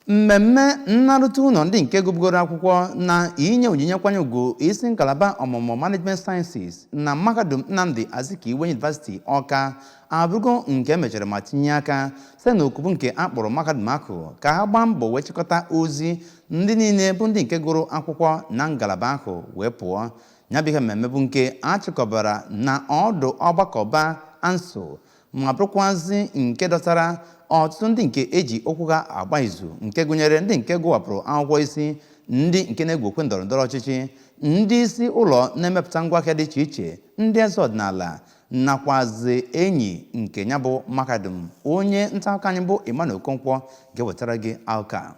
mmemme nnaruta ụlọ ndị nke gụbugoro akwụkwọ na inye onyinye nkwanye ugwu isi ngalaba ọmụmụ management sciences na mahadum nnamdi azikiwe university ọka abụrụgo nke emechara ma tinye aka site na oku bụ nke a kpọrọ mahadum ahụ ka ha gbaa mbọ wee chịkọta ozi ndị niile bụ ndị nke gụrụ akwụkwọ na ngalaba ahụ wee pụọ ya bụ ihe mmemme bụ nke a chịkọbara na ọdụ ọgbakọba asuu ma bụrụkwazị nke dọtara ọtụtụ ndị nke eji okwu ha agba izu nke gụnyere ndị nke gụwapụrụ akwụkwọ isi ndị nke na-egwu okwe ndọrọ ndọrọ ọchịchị ndị isi ụlọ na-emepụta ngwaahịa dị iche iche ndị eze ọdịnala nakwazi enyi nke ya bụ mahadum onye nta akụkọ anyị bụ Emmanuel Okonkwo ga-ewetara gị akụkọ a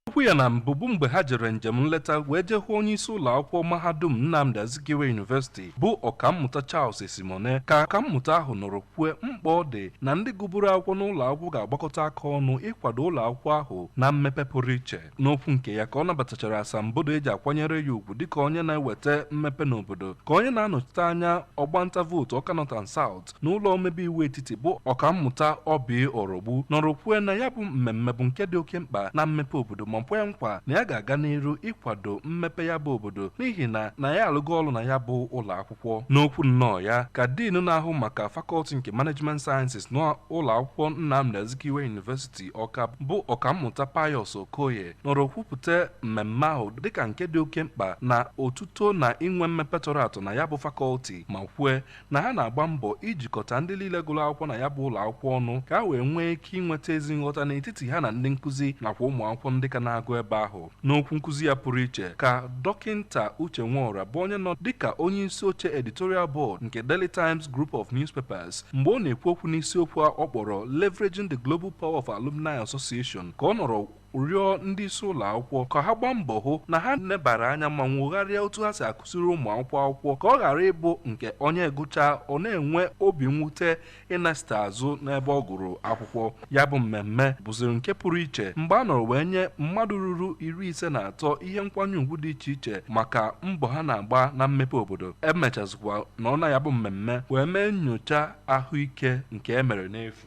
Okwu ya na mbụbu mgbe ha jere njem nleta wee jee hụ onye isi ụlọ akwụkwọ mahadum Nnamdi Azikiwe University bụ Ọkammụta Charles Esimone ka ọkammụta ahụ nọrọ kwue mkpa ọ dị na ndị gụburu akwụkwọ n'ụlọ akwụkwọ ga-agbakọta aka ọnụ ịkwado ụlọ akwụkwọ ahụ na mmepe pụrụ iche. N'okwu nke ya ka ọ nabatachara asambodo eji akwanyere ya ugwu dịka onye na-eweta mmepe n'obodo ka onye na-anọchite anya ọgbanta vootu Ọka North and South n'ụlọ omebe iwu etiti bụ ọkammụta Oby Orogbu nọrọ kwue na ya bụ mmemme bụ nke dị oke mkpa na mmepe obodo ma kwee nkwa na ya ga-aga n'iru ịkwado mmepe ya bụ obodo n'ihi na na ya alụgo ọrụ na ya bụ ụlọ akwụkwọ n'okwu nnọọ ya ka diinu na-ahụ maka fakọlti nke management sciences na ụlọ akwụkwọ Nnamdi Azikiwe University Ọka bụ ọkammụta Pius Okoye nọrọ kwupụta mmemme ahụ dịka nke dị oke mkpa na otuto na inwe mmepe tọrọ atọ na ya bụ fakọlti ma kwue na ha na-agba mbọ ijikọta ndị niile gụrụ akwụkwọ na ya bụ ụlọ akwụkwọ ọnụ ka ha wee nwee ike inweta ezi nghọta n'etiti ha na ndị nkụzi nakwa ụmụ akwụkwọ ndị ka na-agụ ebe ahụ n'okwu nkụzi ya pụrụ iche ka dọkịnta Uche Nworah bụ onye nọ dịka onye isi oche editorial board nke Daily Times Group of Newspapers mgbe ọ na-ekwu okwu n'isiokwu a ọ kpọrọ Leveraging the Global Power of Alumni Association ka ọ nọrọ rịọ ndị isi ụlọ akwụkwọ ka ha gbaa mbọ hụ na ha nebara anya ma nwogharịa otu ha si akụziri ụmụ akwụkwọ akwụkwọ ka ọ ghara ịbụ nke onye gụchaa ọ na-enwe obi mwute ịnachita azụ n'ebe ọ gụrụ akwụkwọ ya bụ mmemme bụziri nke pụrụ iche mgbe a nọrọ wee nye mmadụ ruru iri ise na atọ ihe nkwanye ugwu dị iche iche maka mbọ ha na-agba na mmepe obodo emechazikwa nọọ na ya bụ mmemme wee mee nyocha ahụike nke e mere n'efu